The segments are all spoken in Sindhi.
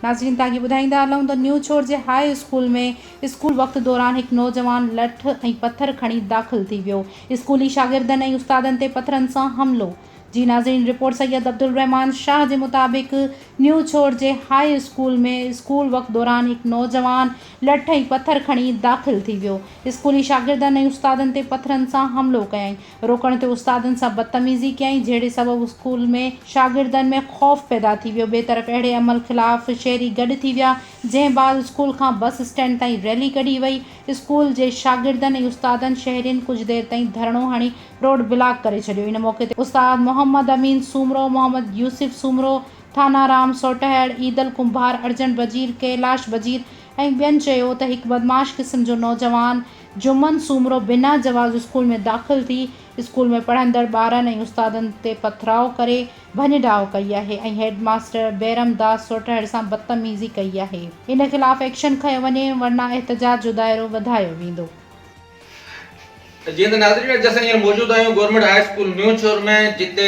ناظرين ته اڳي ٻڌائيندا هلون ته نيو ڇور جي هاء اسڪول ۾ اسڪول وقت دوران هڪ نوجوان لٺ ۽ پٿر کڻي داخل ٿي ويو اسڪولي شاگردن ۽ استادن تي پٿرن سان حملو جي ناظرين رپورٽ سيد عبدالرحمان شاهه جي مطابق نيو ڇوڙ جي هاء اسڪول ۾ اسڪول وقت دوران هڪ نوجوان لٺ ۽ پٿر کڻي داخل ٿي ويو اسڪولي شاگردن ۽ استادن تي پٿرن سان حملو ڪيائين روڪڻ تي استادن سان بدتميزي ڪيائين جهڙي سبب اسڪول ۾ شاگردن ۾ خوف پيدا ٿي ويو ٻي طرف اهڙي عمل خلاف شهري گڏ ٿي ويا جنهن بعد اسڪول کان بس اسٽينڊ تائين ريلي ڪڍي وئي اسڪول جي شاگردن ۽ استادن شهرين ڪجهه دير تائين ڌرڻو هڻي روڊ بلاڪ ڪري ڇڏيو ان موقعي تي استاد محمد امين سومرو، محمد يوسف سومرو، ٿانان رام سوٽهڙ، عيدل ڪنڀار، ارجنٽ وزير، ڪيلاش وزير ۽ ٻين چيو ته هڪ بدمعاش قسم جو نوجوان جمن سومرو بنا جواز اسڪول ۾ داخل ٿي اسڪول ۾ پڙهندڙ ٻارن ۽ استادن تي پٿراء ڪري ڀڃ ڊاهه ڪئي آهي ۽ هيڊ ماستر بيرم داس سوٽهڙ سان بدتميزي ڪئي آهي ان خلاف ايڪشن کنيو وڃي ورنه احتجاج جو دائرو وڌايو ويندو. جيئن ته ناظرين اڄ اسان هينئر موجود آهيون government high school New Chhor ۾ جتي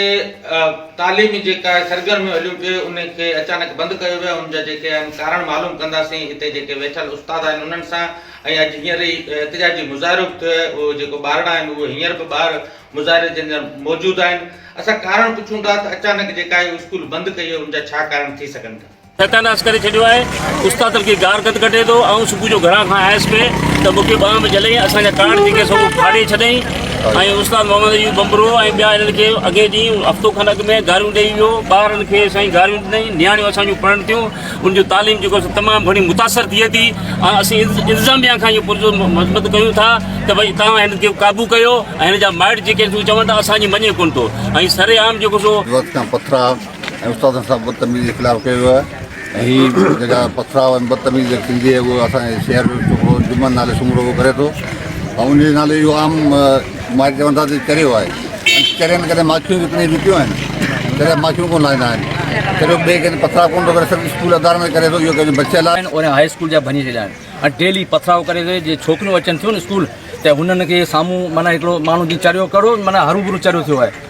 تعليمي جيڪا آهي سرگرميون هليون پيئي ان کي اچانڪ بند ڪيو ويو ان جا جيڪي آهن ڪارڻ معلوم ڪنداسين هتي جيڪي ويٺل استاد آهن انهن سان ۽ اڄ هينئر ئي احتجاجي مظاهرو به ٿيو آهي اهو جيڪو ٻارڙا آهن اهو هينئر به ٻاهر مظاهري جي اندر موجود آهن اسان ڪارڻ پڇون ٿا ته اچانڪ جيڪا آهي اسڪول بند ڪئي وئي ان جا ڇا ڪارڻ ٿي سگهن ٿا ستيا ناس ڪري ڇڏيو آهي استاد تن کي گار گد ڪڍي ٿو آئون صبح جو گهران کان آيس پي ته مون کي ٻانهن ۾ جهليائين اسان جا ڪارڊ جيڪي سو ڦاڙي ڇڏيائين ۽ استاد محمد ايوب بمبرو ۽ ٻيا هنن کي اڳئين ڏينهن هفتو کن اڳ ۾ گاريون ڏيئي ويو ٻارن کي سائين گاريون ڏنائين نياڻيون اسان جون پڙهن ٿيون ان جو تعليم جيڪو سو تمام گهڻي متاثر ٿئي ٿي ۽ اسين انتظاميا کان اهو پرزو مذمت ڪيون ٿا ته ڀائی تان هن کي قابو ڪيو ۽ هن جا مائٽ جيڪي ٿيون چون ته اسان جي مڃي ڪون ٿو ۽ سري عام جيڪو سو وقت کان پٿرا ۽ استادن سان بدتميزي جي خلاف ڪيو ويو آهي ۽ هي جيڪا پٿراء ۽ بدتميزي جيڪا ٿيندي آهي اهو اسان جي شهر جو ڇوڪرو جمن نالي سومرو اهو ڪري ٿو ۽ ان جي نالي اهو عام مائٽ چون ٿا ته چريو آهي چرين ڪڏهن ماکيون به اتني وڪيون آهن چريا ماکيون ڪونه لاهيندا آهن چريو ٻئي ڪنهن پٿراء ڪونه ٿو ڪري صرف اسڪول ادارن ۾ ڪري ٿو اهو ڪنهن جو بچي لاء آهن اورين هاء اسڪول جا ڀڃي ڇڏيا آهن ۽ ڊيلي پٿراء ڪري ٿو جي ڇوڪريون اچن ٿيون اسڪول ته هنن کي سامهون معنيٰ هڪڙو ماڻهو جي چريو ڪرو معنيٰ هروڀرو چريو ٿيو آهي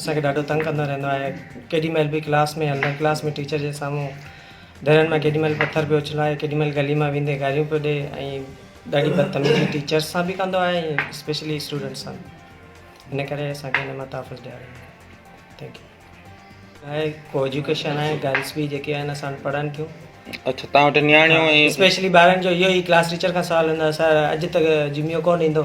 اسان کي ڏاڍو تنگ ڪندو رهندو آهي ڪيڏي مهل به ڪلاس ۾ هلندڙ ڪلاس ۾ ٽيچر جي سامهون درن مان ڪيڏي مهل پٿر پيو اڇلائي ڪيڏي مهل گلي مان ويندي گاريون پيو ڏي ۽ ڏاڍي بدتميزي ٽيچرس سان به ڪندو آهي ۽ اسپيشلي اسٽوڊنٽس سان به ان ڪري اسان کي هن مان تحفظ ڏياريو وڃي ٿينڪ يو آهي ڪو ايجوڪيشن آهي گرلس به جيڪي آهن اسان وٽ پڙهن ٿيون اچھا تان وٽ نياڻيون اسپيشلي ٻارن جو اهو ئي ڪلاس ٽيچر کان سوال هوندو آهي سر اڄ ته جميو ڪون ايندو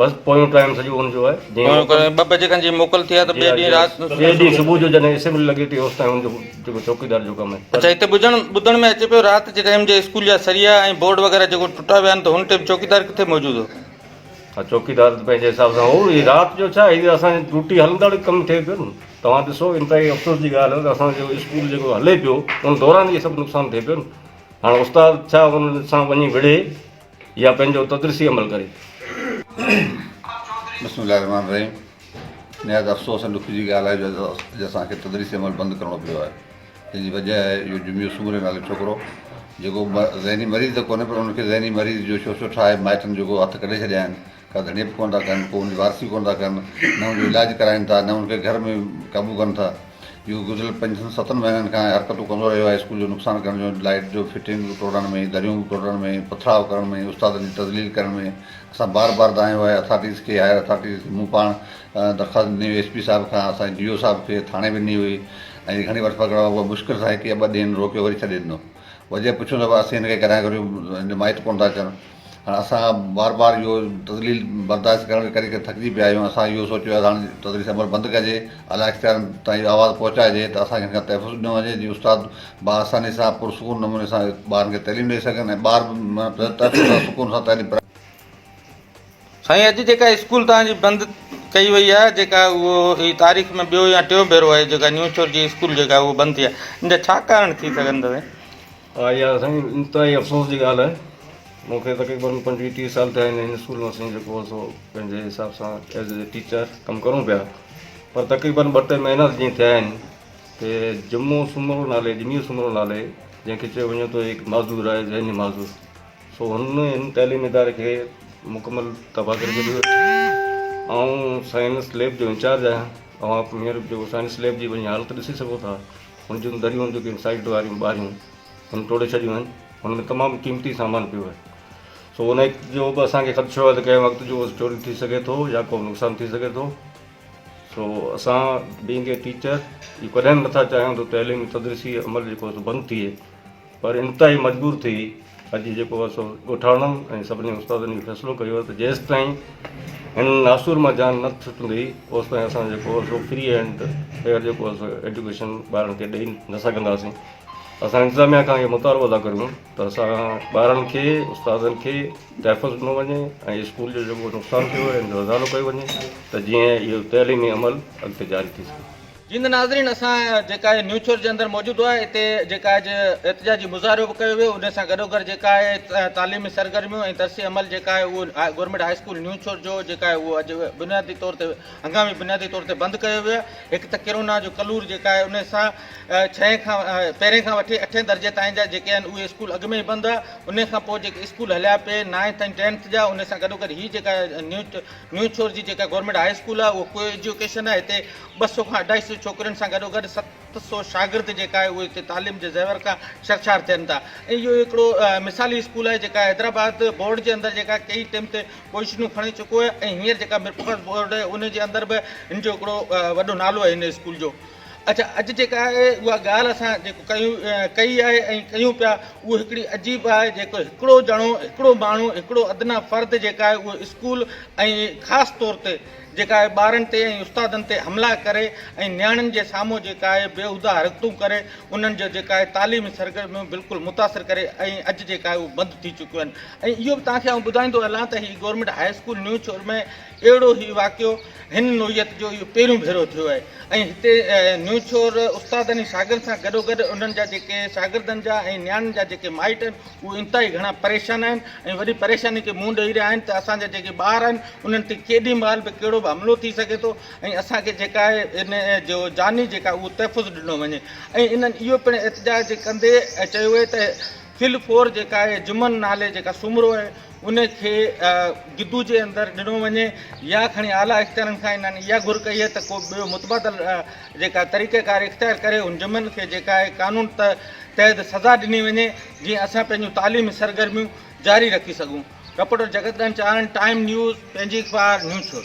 بس پويون ٽائيم سڄو ان جو آهي. پويون ڪري ٻه بجي کن جيئن موڪل ٿئي ها ته ٻئي ڏينهن رات. ٻئي ڏينهن صبح جو جڏهن اسيمبلي لڳي ٿي اوستائين ان جو جيڪو چوڪيدار جو ڪم آهي. اڇا هتي ٻڌڻ ٻڌڻ ۾ اچي پيو رات جي ٽائيم جي اسڪول جا سريا ۽ بورڊ وغيره جيڪو ٽٽا ويا آهن ته هن ٽائيم چوڪيدار ڪٿي موجود هو؟ ها چوڪيدار ته پنهنجي حساب سان هو هي رات جو ڇا هي اسان جي ڊوٽي هلندڙ ڪم ٿئي پيو نه توهان ڏسو انتهائي افسوس جي ڳالهه ته اسان جو اسڪول جيڪو هلي پيو ان دوران هي سڀ نقصان ٿئي پيو نه هاڻ استاد ڇا ان سان وڃي وڙهي يا پنهنجو تدريسي عمل ڪري. بسم الله الرحمٰن الرحيم نهايت افسوس ۽ ڏک جي ڳالهه آهي جو اڄ اسان کي تدريسي عمل بند ڪرڻو پيو آهي جنهن جي وجهه آهي اهو جميو سومري نالي ڇوڪرو جيڪو ذهني مريض ته ڪونهي پر ان کي ذهني مريض جو شوشو ٺاهي مائٽن جيڪو هٿ ڪڍي ڇڏيا آهن ڪا ڌڻيپ ڪونه ٿا ڪن ڪو انهن جي وارثي ڪونه ٿا ڪن نه انهن جو علاج ڪرائين ٿا نه انهن کي گهر ۾ قابو ڪن ٿا اهو گذريل پنجن ستن مهينن کان حرڪتون ڪندو رهيو آهي اسڪول جو نقصان ڪرڻ جون لائيٽ جو فٽنگ ٽوڙڻ ۾ دريون ٽوڙڻ ۾ پٿراء ڪرڻ ۾ استادن جي تذليل ڪرڻ ۾ اسان بار بار دانهيو آهي اٿارٽيز کي هائير اٿارٽيز کي مون پاڻ درخواست ڏني هئي ايس پي صاحب کان اسان جي ڊي او صاحب کي ٿاڻي به ڏني هئي ۽ گهڻي وٺ پڪڙ هئا مشڪل سان هڪ يا ٻه ڏينهن روڪيو وري ڇڏي ڏنو وجهه پڇيو ته اسين هن کي ڪڏهن گهريو هن جو مائٽ ڪونه ٿا اچن هاڻ اسان بار بار اهو تذليل برداشت ڪرڻ ڪري ڪري ٿڪجي پيا آهيون اسان اهو سوچيو آهي ته هاڻ تدريس عمل بند ڪجي اعليٰ اختيارين تائين اهو آواز پهچائجي ته اسان کي هن کان تحفظ ڏنو وڃي جيئن استاد با آساني سان پر سڪون نموني سان ٻارن کي تعليم ڏئي سگهن ۽ ٻار به تحفظ سان سڪون سان تعليم پرائي سائين اڄ جيڪا اسڪول توهان جي بند ڪئي وئي آهي جيڪا اهو هي تاريخ ۾ ٻيو يا ٽيون ڀيرو آهي جيڪا نيو شھر جي اسڪول جيڪا اهو بند ٿي آهي ان جا ڇا ڪارڻ ٿي سگهن ٿا سائين ها اها سائين انتهائي افسوس جي ڳالهه آهي. مون کي تقريباً پنجويهه ٽيهه سال ٿيا آهن هن اسڪول ۾ اسين جيڪو سو پنهنجي حساب سان ايز اي ٽيچر ڪم ڪرون پيا پر تقريباً ٻه ٽي مهينا جيئن ٿيا آهن ته جمعو سومرو نالي جمعي سومرو نالي جنهن کي چيو وڃي ٿو هڪ معذور آهي ذهني معذور سو هن هن تعليم اداري کي مڪمل تباهه ڪري ڇڏيو آئون سائنس ليب جو انچارج آهيان اوهان مير جو سائنس ليب جي وڃي حالت ڏسي سگهو ٿا هن جون دريون جيڪي سائيڊ واريون ٻاريون هن ٽوڙي ڇڏيون آهن هن ۾ تمام قيمتي سامان پيو آهي سو ان جو به اسان کي خدشو آهي ته ڪنهن وقت جو چوري ٿي سگهي ٿو يا ڪو نقصان ٿي سگهي ٿو سو اسان بينگ اي ٽيچر ڪڏهن به نٿا چاهيون ته تعليمي تدريسي عمل جيڪو سو بند ٿئي پر انتهائي مجبور ٿي اڄ جيڪو آهي سو ڳوٺاڻن ۽ سڀني استادن اهو فيصلو ڪيو آهي ته جيستائين هن ناسور مان جان نه ڇٽندي اوستائين اسان جيڪو آهي سو فري هينڊ فيئر جيڪو آهي سو ايڊيوڪيشن ٻارن کي ڏئي نه سگهنداسين اسان انتظاميا کان اهو مطالبو ٿا ڪريون ته اسان ٻارن کي استادن کي تحفظ ڏنو وڃي ۽ اسڪول جو جيڪو نقصان ٿيو آهي ان جو ازالو ڪيو وڃي ته جيئن اهو تعليمي عمل اڳتي جاري ٿي سگهي جيئن ته ناظرين اسان جيڪا هي نيوز چرچ جي اندر موجود هئا اتي جيڪا هي احتجاجي مظاهرو به ڪيو ويو ان سان گڏوگڏ جيڪا هي تعليمي سرگرميون ۽ درسي عمل جيڪا هي اهو government high school New Chhor جو جيڪا هي اهو اڄ بنيادي طور تي هنگامي بنيادي طور تي بند ڪيو ويو آهي هڪ ته ڪرونا جو ڪلور جيڪا هي ان سان ڇهين کان پهرين کان وٺي اٺين درجي تائين جا جيڪي آهن اهي اسڪول اڳ ۾ ئي بند هئا ان کان پوء جيڪي اسڪول هليا پي نائنٿ ۽ ٽينٿ جا ان سان گڏوگڏ هي جيڪا نيوز نيوز چرچ جي جيڪا گورنمينٽ هاء اسڪول آهي اهو ڪو ايجوڪيشن آهي هتي ٻه سؤ کان اڍائي سؤ ڇوڪرين سان گڏوگڏ ست سؤ شاگرد جيڪا اهي هتي تعليم جي زيور کان شرشار ٿين ٿا ۽ اهو هڪڙو مثالي اسڪول آهي جيڪا حيدرآباد بورڊ جي اندر جيڪا ڪيئي ٽيم تي پوزيشنون کڻي چڪو آهي ۽ هينئر جيڪا ميرپورخاص بورڊ آهي ان جي اندر به هن جو هڪڙو وڏو نالو آهي هن اسڪول جو اڇا اڄ جيڪا آهي اها ڳالهه اسان جيڪو ڪيون ڪئي آهي ۽ ڪيون پيا اهو هڪڙي عجيب آهي جيڪو هڪڙو ڄڻو هڪڙو ماڻهو هڪڙو ادنيٰ فرد جيڪا آهي اهو اسڪول ۽ خاص طور تي جيڪا آء ٻارن تي ۽ استادن تي حملا ڪري ۽ نياڻين جي سامهون جيڪا آء بيهوده حرڪتون ڪري انهن جو جيڪا آء تعليمي سرگرميون بلڪل متاثر ڪري ۽ اڄ جيڪا آء اهو بند ٿي چڪيون آهن ۽ اهو به توهان کي آئون ٻڌائيندو هلان ته هي government high school New Chhor ۾ اهڙو هي واقعو هن نوعيت جو اهو پهريون ڀيرو ٿيو آهي ۽ هتي نيو چور استادن ۽ شاگردن سان گڏو گڏ انهن جا جيڪي شاگردن جا ۽ نياڻين جا جيڪي مائٽ آهن اهي انتهائي گهڻا پريشان آهن ۽ وڏي پريشاني کي منهن ڏئي رهيا آهن ته اسان جا جيڪي ٻار آهن انهن تي ڪيڏي مهل به ڪهڙو به حملو ٿي سگهي ٿو ۽ اسان کي جيڪا آهي ان جو جاني جيڪا آهي اهو تحفظ ڏنو وڃي ۽ انهن اهو پڻ احتجاج ڪندي چيو آهي ته فل فور جيڪا آهي جمن نالي جيڪا سومرو آهي ان کي گدو جي اندر ڏنو وڃي يا کڻي اعليٰ اختيارن کان انهن اها گهر ڪئي آهي ته ڪو ٻيو متبادل جيڪا طريقيڪار اختيار ڪري ان جمن کي جيڪا اهي قانون تحت سزا ڏني وڃي جيئن اسان پنهنجون تعليمي سرگرميون جاري رکي سگهون، رپورٽر جڳت ڏنچ آرنڊ، ٽائيم نيوز، پنهنجي اخبار، نيوچور.